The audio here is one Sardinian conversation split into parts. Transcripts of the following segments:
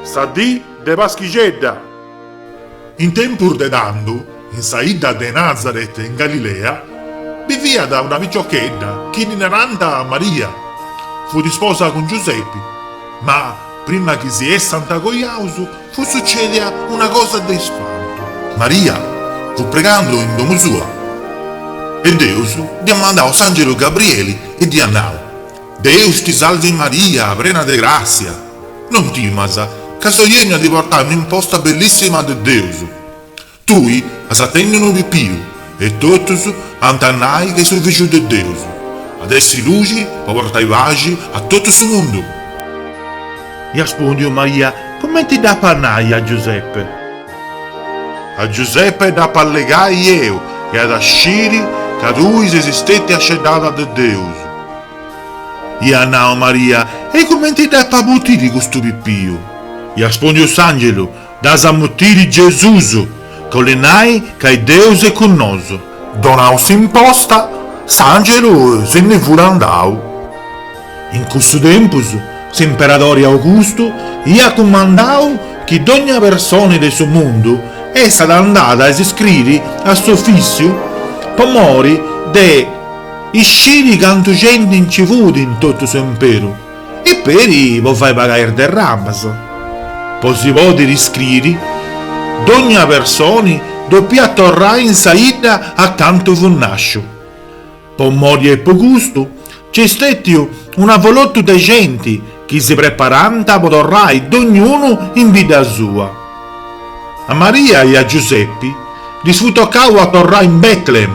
Sa dì de Paschixedda. In tempus de tando, in sa 'idda de Nazaret in Galilea, biviat una piciochedda chi ddi narànt Maria. Fut isposa cun Giusepi, ma Prima chi si essant coiaus, fut sucèdia una cosa de ispantu. Maria fut pregando in domu sua e Deus dd'iat mandau s'àngelu Gabrieli e dd'iat nau, Deus ti salvi Maria, prena de gràssia, non timas, ca soi ènniu a ti portai un'imposta bellissima de Deus. Tui as a tenni unu pipiu e totus ant a nai chi est su Fìgiu de Deus, at a essi luxi po portai paxi a totu su mundu. Iat spòndiu Maria, Cumenti dd'apu a nai a Giuseppe? A Giuseppe dd'apu a allegai eu e at a sciri ca tui ses stètia sceddada de Deus. Iat nau Maria, E cumenti dd'apu a mutiri custu pipiu? Iat spòndiu s'àngelu, Dd'as a mutiri Gesusu, chi 'olit nai ca Deus est cun nosu. Donau s'imposta, s'angelu si ndi fut andau. In cussu tempus s'imperadori Augustu iat cumandau chi dogna personi de su mundu essat andada a s'iscriri a s'ofissiu po mori de isciri cantu genti nci fut in totu s'imperu. e peri po fai pagai is derramas, po si podiri iscriri, dogna personi dopiat torrai in sa idda a cantu fut nasciu. Po mori e po custu nc'est stetiu un avolotu de genti chi si preparànt po torrai dognunu in bidda sua. A Maria e a Giusepi ddis fut tocau a torrai in Bètlehem,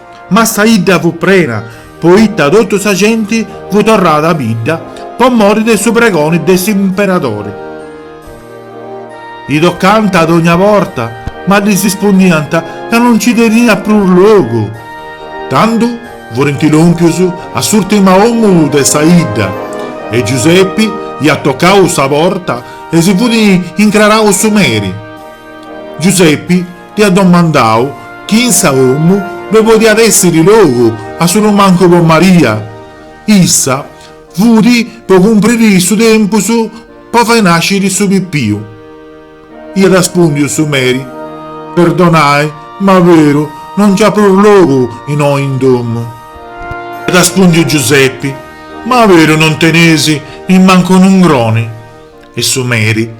Ma sa 'idda fut prena, poita totu sa genti fut torrada a bidda po mori de su pregoni de s'imperadori. E tocànt a dogna porta, ma ddis ispundiant ca no nci teniat prus logu. Tando furint lòmpius a s'ùrtima omu de sa 'idda e Giusepi iat tocau sa porta e si fut incrarau su meri. Giusepi Dd'hiat domandau chi in sa domu ddoi podiat essiri logu, a su prus mancu po Maria. Issa fudi po cumpriri su tempus po fai nasciri su pipiu. Hiat raspundiu su meri, Perdonai, ma beru, non nc'hat prus logu innoi in domu. Hiat raspundiu Giusepi, Ma beru non tenesi nimmancu un'ungroni. E su meri.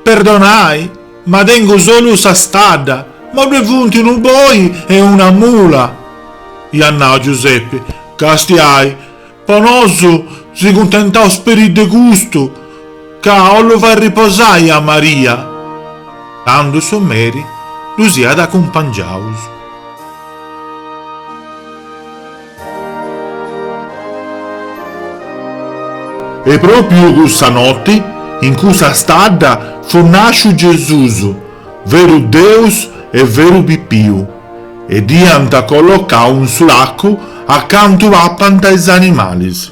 Perdonai, ma tengu solu sa stadda, ma ddue funt unu boi e una mula. Iat nau Giuseppe, Càstiai, po nosu si cuntentaus peri de custu, ca 'ollu fai riposai a Maria. Tandu su meri ddus iat acumpangiaus. E pròpiu cussa noti, in cussa stadda, fut nàsciu Gesùs, veru Deus e veru pipiu, e dd'iant collocau in su lacu acantu papant is animalis.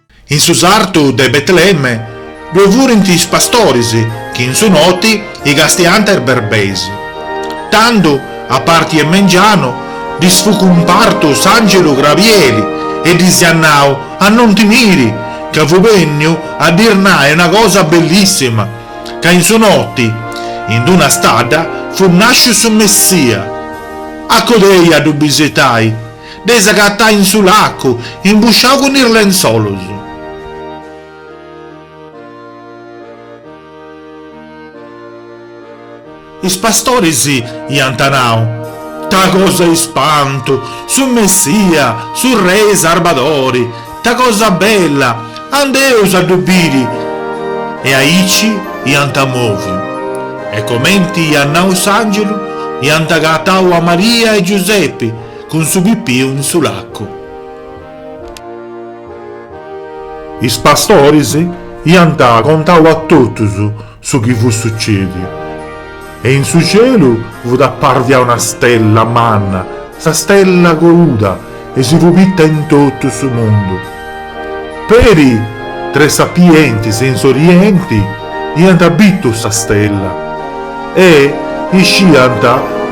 In su sartu de Betlemme ddue furint is pastoris chi in su noti castiant is berbeis. Tando, a parti 'e mengianu, ddis fut cumpartu s'àngelu Grabieli e ddis iat nau a non timiri, ca fut bènniu a ddis nai una cosa bellissima, ca in su noti, in d-una stadda, fut nàsciu su Messia. Acodei a ddu bisitai. Dd'eis agatai in su lacu, imbusciau cun is lentzolus. Is pastoris iant nau, Ta cosa 'e ispantu! Su Messia, su Rei Sarbadori! Ta cosa bella! Andeus a ddu biri! E aici iant moviu. E comenti iat nau s'angelu, iant agatau a Maria e Giusepi, Cun su pipiu in su lacu. Is pastoris iant contau a totus su chi fut sucediu e in su cielu fut apparvia una stella manna, sa stella coduda e si fut bitta in totu su mundu. Peri tres sapientis in s'orienti iant bitu sa stella e isciant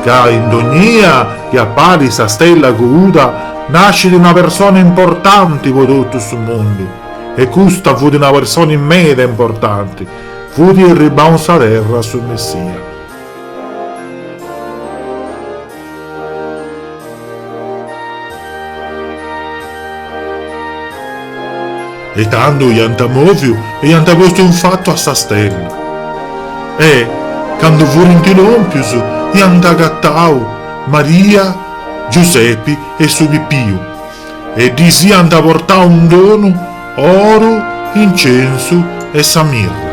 ca in dognia chi apparit sa stella coduda nascit una persona importanti po totu su mundu e custa fut una personi meda meda importanti, fut erribau in sa terra su Messia. E tando iant mòviu e iant postu in fatu a sa stella. E, candu furint lòmpius, iant agatau Maria, Giusepi e su Pipiu e ddis iant portau in donu oru, incensu e sa mirra.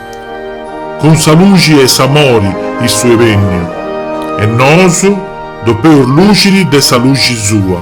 Cun sa luxi e s'amori issu est benniu e nosu depeus luxiri de sa luxi sua.